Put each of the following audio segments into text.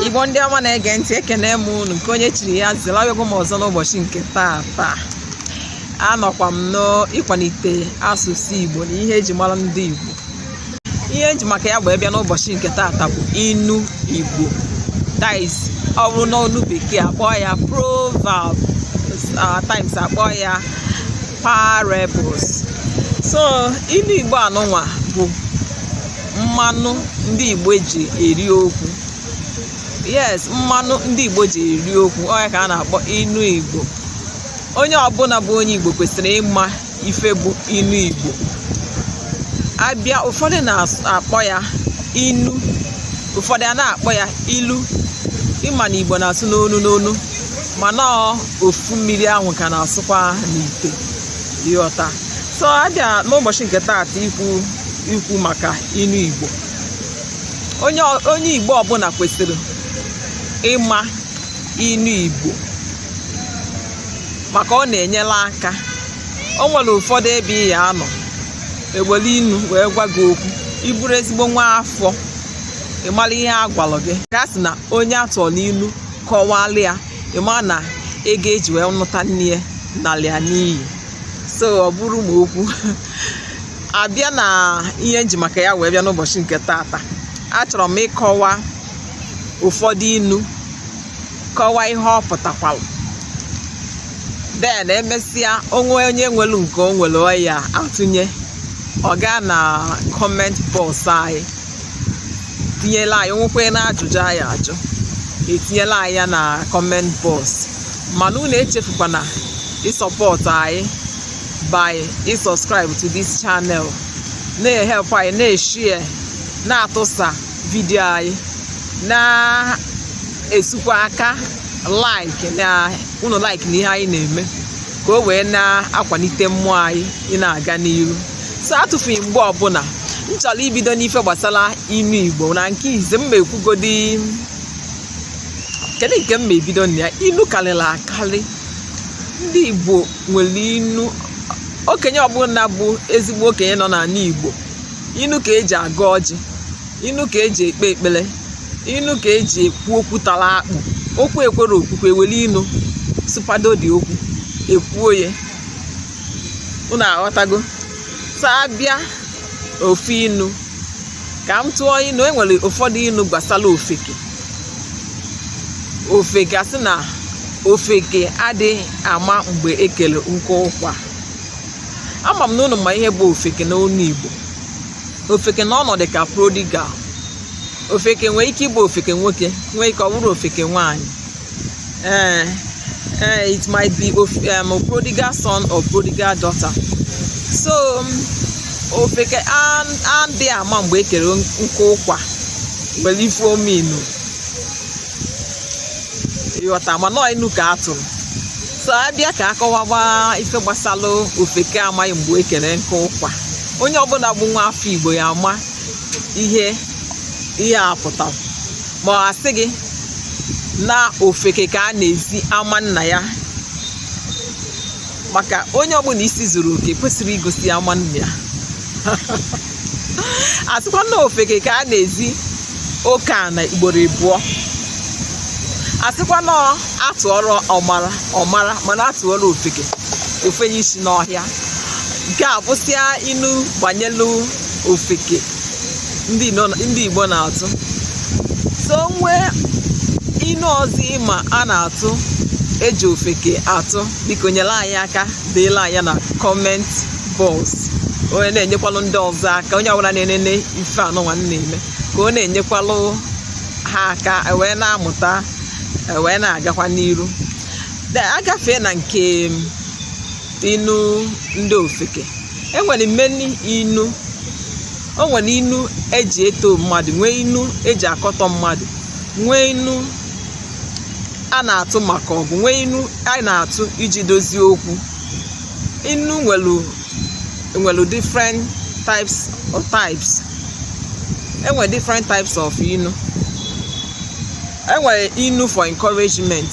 igbo ndị ọma na-ege ntị ekene m unu nke onye chiri ya zere abịagwo m ọzọ n'ụbọchị nke taata anọkwa m n'ịkwalite asụsụ igbo na ihe eji mara ndị igbo ihe nji maka ya wee bịa n'ụbọchị nke taata bụ inu igbo that is ọ bụrụ n'onu bekee akpọọ ya proverb at times akpọọ ya parables so inu igbo anụnwa bụ mmanụ ndị igbo ji eri okwu yes mmanụ ndị igbo ji eri okwu ọ ya ka a na-akpọ inu igbo onye ọbụla bụ onye igbo kwesịrị ịma ife bụ inu igbo abịa ụfọdụ na-akpọ ya inu ụfọdụ a na-akpọ ya ilu ị ma na igbo na-asụ n'onu n'onu mana ọ ofu mmiri ahụ ka na-asụkwa n'ite ịghọta so abịa n'ụbọchị nke taata ikwu ikwu maka inu igbo onye ọ- onye igbo ọbụla kwesịrị ịma inu igbo maka ọ na-enyere aka o nwere ụfọdụ ebe ị ya anọ ewere inu wee gwa gị okwu ị bụrụ ezigbo nwa afọ ị mara ihe a gwalụ gị ka a sị na onye atụọlụ inu kọwara ya ị ma na ego eji wee nụta nne ya nala ya n'iyi so ọ bụrụ ma okwu abịa na ihe nji maka ya wee bịa n'ụbọchị nke taata achọrọ m ịkọwa ụfọdụ inu kọwa ihe ọ pụtakwalụ then emesịa o nwee onye nwelu nke o nwere ọ ya-atụnye ọ gaa na comment box anyị tinyela anyị nwekwe na ajụjụ anyị ajụ etinyela anyị ya na comment box mana unu echefukwana ịsupport anyị by ịsubscribe to this channel na-ehelp anyị na-eshare na-atụsa vidio anyị na-esukwa aka like na unu like na ihe anyị na-eme ka o wee na-akwalite mmụọ anyị ị na-aga n'iru so atụfughị mgbe ọbụla m chọrọ ibido n'ife gbasara inu igbo na nke ize m ekwugodi kedu nke m ma ebido na ya inu karịrị akarị ndị igbo nwere inu okenye ọbụla bụ ezigbo okenye nọ n'ala igbo inu ka eji agọ ọjị inu ka eji ekpe ekpere inu ka eji ekwu okwu tara akpụ okwu ekwerọ okwukwu ewere inu supado dị okwu ekwuo ya unu aghọtago so abịa ofe inu ka m tụọ inu enwere ụfọdụ inu gbasara ofeke ofeke asị na ofeke adịghị ama mgbe ekelu nkụ ụkwa ama m na unu ma ihe bụ ofeke n'ọnụ igbo ofeke na ọ nọ dị ka prodigal ofeke nwee ike ịbụ ofeke nwoke nwee ike ọ bụrụ ofeke nwaanyị Uh, uh, it might be of, um, a prodigal son or prodigal daughter. So, um, ofeke adị ama mgbe ekere nkụ ụkwa nwere ife o mean ị ghọta mana ọ inu ka atụrụ so abịa ka akọwaba ife gbasara ofeke amaghị mgbe ekere nkụ ụkwa onye ọbụla bụ nwa afọ igbo ya ama ihe ihe a pụtara ma ọ asị gị na ofeke ka a na-ezi ama nna ya maka onye ọbụla isi zuru oke kwesịrị igosi ama nna ya asịkwa na ofeke ka a na-ezi oke ana igboro abụọ asịkwa na atụọrọ ọmara ọ mara mana atụọrọ ofeke o fenye isi n'ọhịa nke a bụsịa inu banyelu ofeke ndị Igbo na-atụ so nwee inu ọzọ ị ma a na-atụ eji ofeke atụ biko nyere anyị aka deela anyị na comment box onye na-enyekwalụ ndị ọzọ aka onye ọbụla na-enene ife anyịnwa na-eme ka ọ na-enyekwalụ ha aka e wee na-amụta e wee na-agakwa n'iru agafee na nke inu ndị ofeke e nwere many inu o nwere inu eji eto mmadụ nwee inu eji akọtọ mmadụ nwee inu a na-atụ maka ọgụ nwee inu a na-atụ iji dozie okwu inu nwere different types e nwere different types of inu e nwere inu for encouragement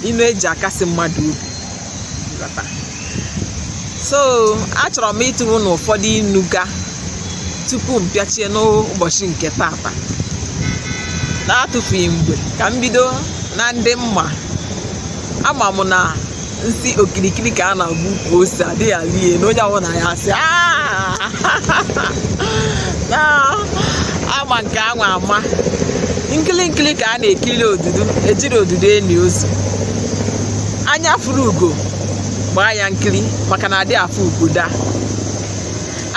inu eji akasi mmadụ obi so achọrọ m ịtụrụ unu ụfọdụ inu ga tupu m pịachie n'ụbọchị nke taata n'atụfughị mgbe ka m bido na ndị m ma ama m na m sị okirikiri ka a na-agba ukwu ose adịghị alị ya na onye ọbụla ya asị ama nke anwa ama nkili nkili ka a na-ekiri ododo ejirọ ododo eni ozu anya fụrụ ugo gbaa ya nkiri maka na adị afụ ugo daa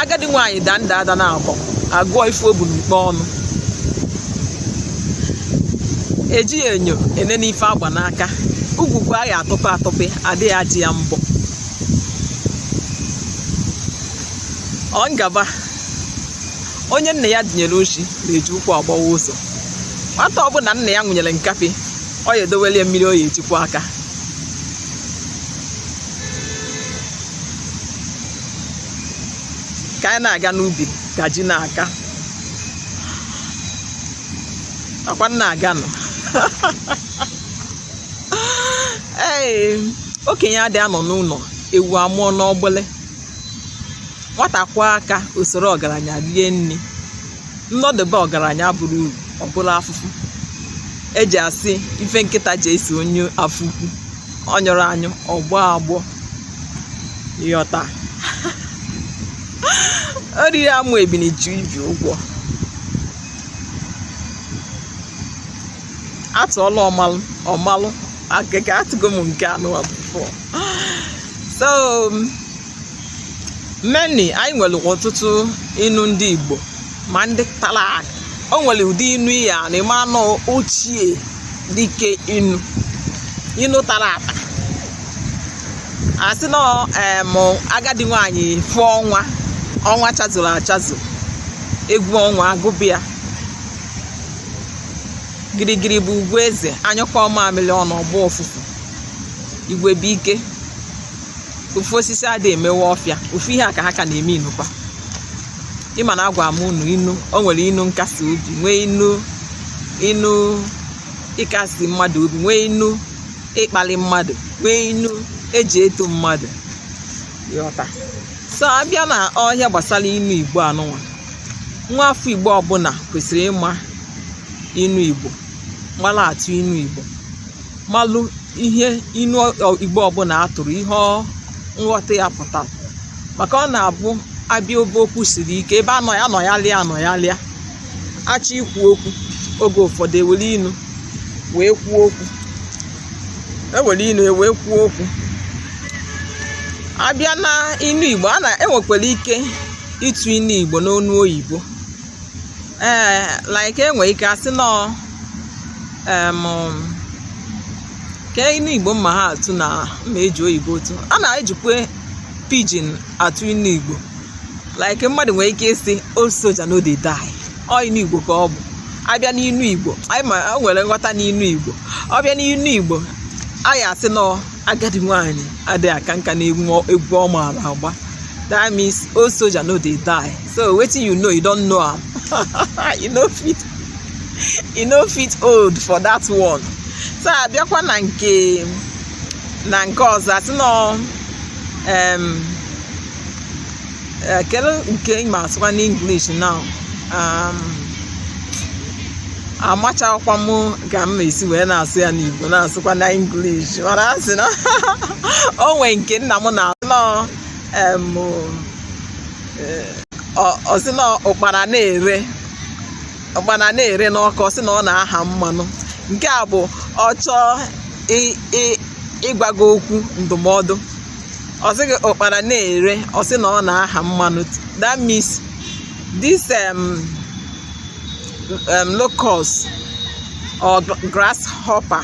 agadi nwaanyị daa nda ada naabọ a gụọ ife o bu n'ụkpa ọnụ ejighị enyo ene n'ife agba n'aka ngwugwu aga atọpe atọpe adịghị ajị ya mbọ ọ ngaba onye nna ya dunyere oshi na-eji ụkwụ agbawa ụzọ nwata ọbụla nna ya nwụnyere nkapi ọ ya edowelie mmiri ọ ya eji kwọ aka ka anyị na-aga n'ubi ka ji na-aka akwa nna aga nọ ee okenye adị anọ n'ụlọ ewu amụọ n'ọgbụlị nwata kwọọ aka o soro ọgaranya rie nri nnọdebe ọgaranya bụrụ uru ọ bụrụ afụfụ eji asị ife nkịta ji eso onye afọ ukwu ọ nyụrọ anyụ ọ gbọọ agbọ ịghọta o riri amụ ebini ji ibi ụgwọ atụọlụ ọmalụ ọmalụ agịga atụgo m nke anụwa before so many anyị nwere ọtụtụ inu ndị Igbo ma ndị tara o nwere ụdị inu ị ya anụ ịma nọ ochie dike inu inu tara akpụ asị na em agadi nwaanyị fụọ ọnwa ọnwa chazuru achazu egwu ọnwa agụba ya girigiri bụ ugwu eze anyụkọ mamịrị ọnụ ọ gbọọ ụfụfụ igwe bụ ike ofu osisi adịghị emewe ọfịa ofu ihe a ka ha ka na-eme inukwa ịma na agwa m unu inu o nwere inu nkasi obi nwee inu inu ịkasi mmadụ obi nwee inu ịkpali mmadụ nwee inu eji eto mmadụ ịghọta so abịa na ihe a gbasara inu igbo anụnwa nwa afọ igbo ọbụla kwesịrị ịma inu igbo mara atụ inu igbo malụ ihe inu igbo ọbụla atụrụ ihe nghọta ya pụtara maka ọ na-abụ abịa ebe okwu siri ike ebe anọghalịa anọghalịa achọ ikwu okwu oge ụfọdụ ewere inu wee kwuo okwu ewere inu wee kwuo okwu abịa na inu igbo a na enwekwara ike ịtụ inu igbo n'onu oyibo ee eh, like enwere ike asị nọ ke inu igbo m ma atụ na m ma eji oyibo atụ a na-ejikwa pijin atụ inu igbo like mmadụ nwere ike ịsị old soldier no dey die ọ inu igbo ka ọ bụ abịa n'inu igbo anyị ma o nwere nghọta n'inu igbo ọ bịa n'inu igbo anyị asị nọ agadi nwaanyị adịghị aka nka na egwu ọ malụ agba that means old soldier no dey die so wetin you know you don know am you no fit you no fit old for that one so a bịakwa na nke na nke ọzọ a sị na ọ um, eh, kele nke m ma-asụkwa n'English now um, amachakwa m ka m esi wee na-asụ ya n'Igbo na-asụkwa na English mana a sị na o nwee nke nna m na-asụ nọ um, ọ sị na ụkpara na-ere ụkpara na-ere n'ọkụ ọ sị na ọ na-aha mmanụ nke a bụ ọ chọọ ịgwa gị okwu ndụmọdụ ọ sị gị ụkpara na-ere ọ sị na ọ na-aha mmanụ that means this um, um, locust or grasshopper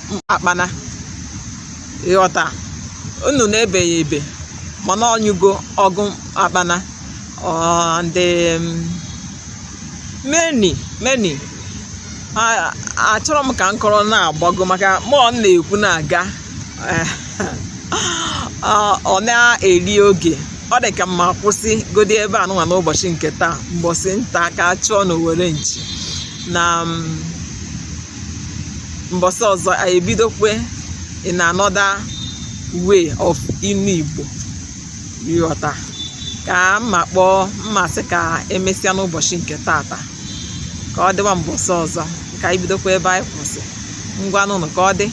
akpana ị ghọta nnụnụ ebeghị ebe mana ọ nyụgo ọgụ akpana and um, many many achọrọ m ka m kọrọ na-agbago maka mụwa na-ekwu na-aga eh, ọ na-eri oge ọ dị ka m ma-akwụsị godi ebe a nụnwa n'ụbọchị nke taa mbọsị nta ka a chụọ n'owere nchi na um, mbọsị ọzọ anyị ebidokwe in another way of inu Igbo ị ghọta ka m ma kpọọ m ma-asị ka emesịa n'ụbọchị nke tata ka ọ dịwa mbọsị ọzọ ka anyị bidokwa ebe anyị kwụsị ngwanụ ka ọ dị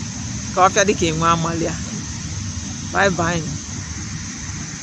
ka ọfịa dị ka enwe amalịa bye bye